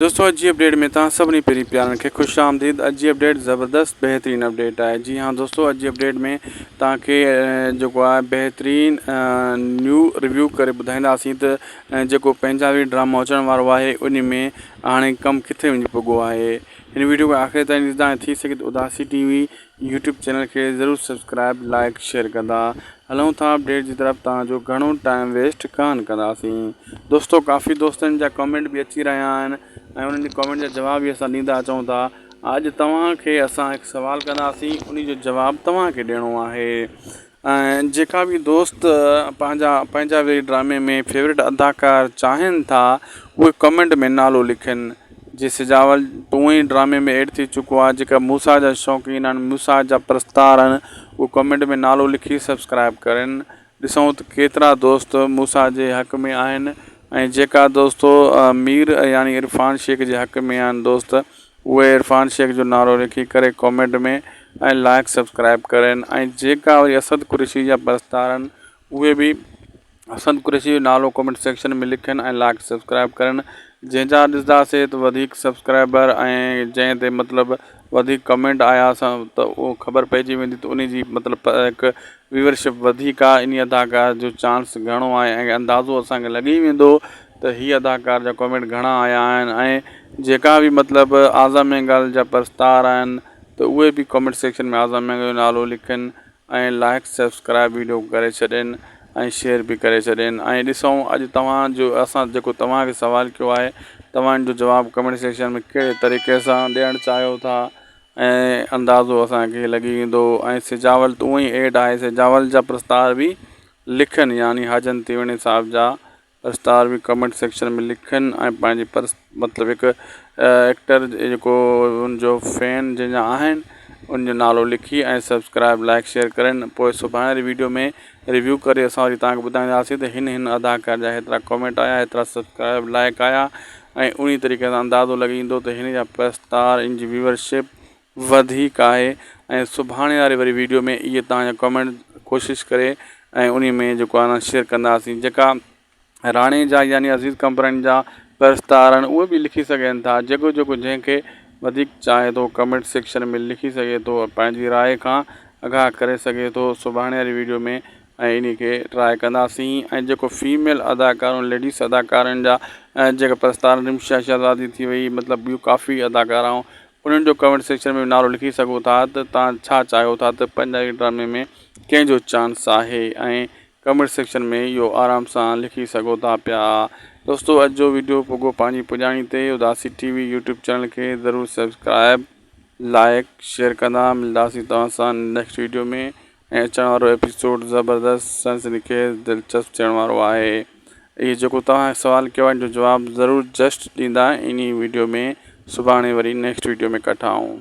دوستو اڄ جي اپڊيٽ ۾ توهان سڀني پيري پيارن کي خوش آمديد اڄ جي اپڊيٽ زبردست بهترين اپڊيٽ آهي جي ها دوستو اڄ جي اپڊيٽ ۾ توهان کي جيڪو آهي بهترين نيو ريويو ڪري ٻڌائينداسين ته جيڪو پنجابي ڊرامو اچڻ وارو آهي ان ۾ هاڻي ڪم ڪٿي وڃي پڳو آهي هن ويڊيو کي آخر تائين ڏسندا ۽ ٿي سگهي ته Udasi TV YouTube channel کي ضرور سبسڪرائب لائيڪ شيئر ڪندا هلون ٿا اپڊيٽ جي طرف تان جو گهڻو ٽائيم ويسٽ ڪانه ڪنداسين دوستو ڪافي دوستن جا ڪمينٽ به اچي رهيا آهن ۽ انهن جي ڪمينٽ جا جواب به اسان ڏيندا اچون ٿا اڄ توهان کي اسان هڪ سوال ڪنداسين انهي جو جواب توهان کي ڏيڻو آهي ۽ جيڪا به دوست پنهنجا پنهنجا ويهه ڊرامي ۾ فيوريٽ اداڪار چاهين ٿا اهي ڪمينٽ ۾ نالو لکن جي سجاول ٽون ئي ڊرامي ۾ ايڊ ٿي چڪو آهي جيڪا موسيٰ جا شوقين آهن موسيٰ جا پرستار آهن اهي ڪمينٽ ۾ نالو لکي سبسڪرائب ڪرن ڏسون ته ڪيترا دوست موسيٰ جي حق ۾ آهن ۽ جيڪا دوست مير يعني عرفان شيخ جي حق ۾ آهن دوست اهي عرفان شيخ جو نعرو لکي ڪري ڪومينٽ ۾ ۽ لائق سبسڪرائب ڪرين ۽ جيڪا وري اسد قريشي جا پرستارن اهي به اسد قريشي جو نعرو ڪومينٽ سيڪشن ۾ لکين ۽ لائق سبسڪرائب ڪرين جنهن جا ڏسنداسي ته وڌيڪ سبسڪرائبر ۽ جنهن تي مطلب وڌيڪ ڪومينٽ آيا سا ته اهو خبر پئجي ويندي ته انهي جي مطلب هڪ ويورشپ وڌيڪ آهي انهي اداڪار جو چانس گهڻو آهي ۽ اندازو اسان کي لڳي ويندو ته هي اداڪار جا ڪامينٽ گهڻا آيا آهن ۽ جيڪا به مطلب اعظم مينگل جا پرستار آهن ته اهي به ڪامينٽ سيڪشن ۾ اعظم مينگل جو نالو لکين ۽ لائيڪ سبسڪرائيب ويڊيو ڪري ڇڏين ۽ شيئر به ڪري ڇڏين ۽ ڏسون اڄ توهان جو اسان جيڪو توهان کي سوال ڪيو آهي توهان ان جو جواب ڪامينٽ سيڪشن ۾ ڪهڙي طريقي سان ڏيڻ چاهيو ٿا ۽ اندازو اسان کي لڳي ويندو ۽ سجاول ته اونئي ايڊ آهي سجاول جا پرستار به لکين يعني حاجن تيوڻي صاحب جا اسٽار به ڪمينٽ سيڪشن ۾ لکن ۽ پنهنجي پرس مطلب هڪ ايڪٽر جيڪو ان جو فين جن جا آهن ان جو نالو لکي ۽ سبسڪرائب لائڪ شيئر ڪرن پوء سڀاڻي واري ويڊيو ۾ ريويو ڪري اسان وري توهان کي ٻڌائينداسين ته هن هن اداڪار جا هيترا ڪمينٽ آيا هيترا سبسڪرائب لائڪ آيا ۽ انهي طريقي سان اندازو لڳي ويندو ته هن جا پرس اسٽار ان جي ويورشپ وڌيڪ آهي ۽ سڀاڻي واري وري ويڊيو ۾ اهي توهان جا ڪمينٽ ڪوشش ڪري ۽ انهي ۾ جيڪو آهي نا شيئر ڪنداسين جيڪا راڻي جا يعني عزيز ڪمپرائن جا پرستار آهن اهي به لکي سگهن ٿا جيڪو جيڪو جنهن کي وڌيڪ چاهي ٿو ڪمينٽ سيڪشن ۾ لکي سگهي ٿو پنهنجي راء کان اگاهه ڪري سگهي ٿو سڀاڻي واري ويڊيو ۾ ۽ انهي کي ٽراء ڪنداسين ۽ جيڪو فيميل اداڪارون ليڊيس اداڪارن جا جيڪا پرستار رمشا شهزادي ٿي وئي مطلب ٻيون ڪافي اداڪارائون انهن جو ڪمينٽ سيڪشن ۾ به نالو لکي سگهو ٿا ته توهان ڇا چاهيو ٿا ته پنجابي ڊرامي ۾ ڪنهن جو چانس آهي ۽ ڪمينٽ سيڪشن ۾ اهو آرام سان لکي سگهو ٿا پيا دوستو اڄ جو ويڊيو پڳو پنهنجي پڄاڻي تي Udasi TV YouTube channel کي ضرور سبسڪرائب لائيڪ شيئر ڪندا ملداسي توهان سان نيڪسٽ ويڊيو ۾ ۽ اچڻ وارو ايپيسوڊ زبردست سنسني خيز دلچسپ ٿيڻ وارو آهي اهي جيڪو توهان سوال ڪيو آهي ان جو جواب ضرور جسٽ ڏيندا انهي ويڊيو ۾ سڀاڻي وري نيڪسٽ ويڊيو ۾ ڪٺا آئون.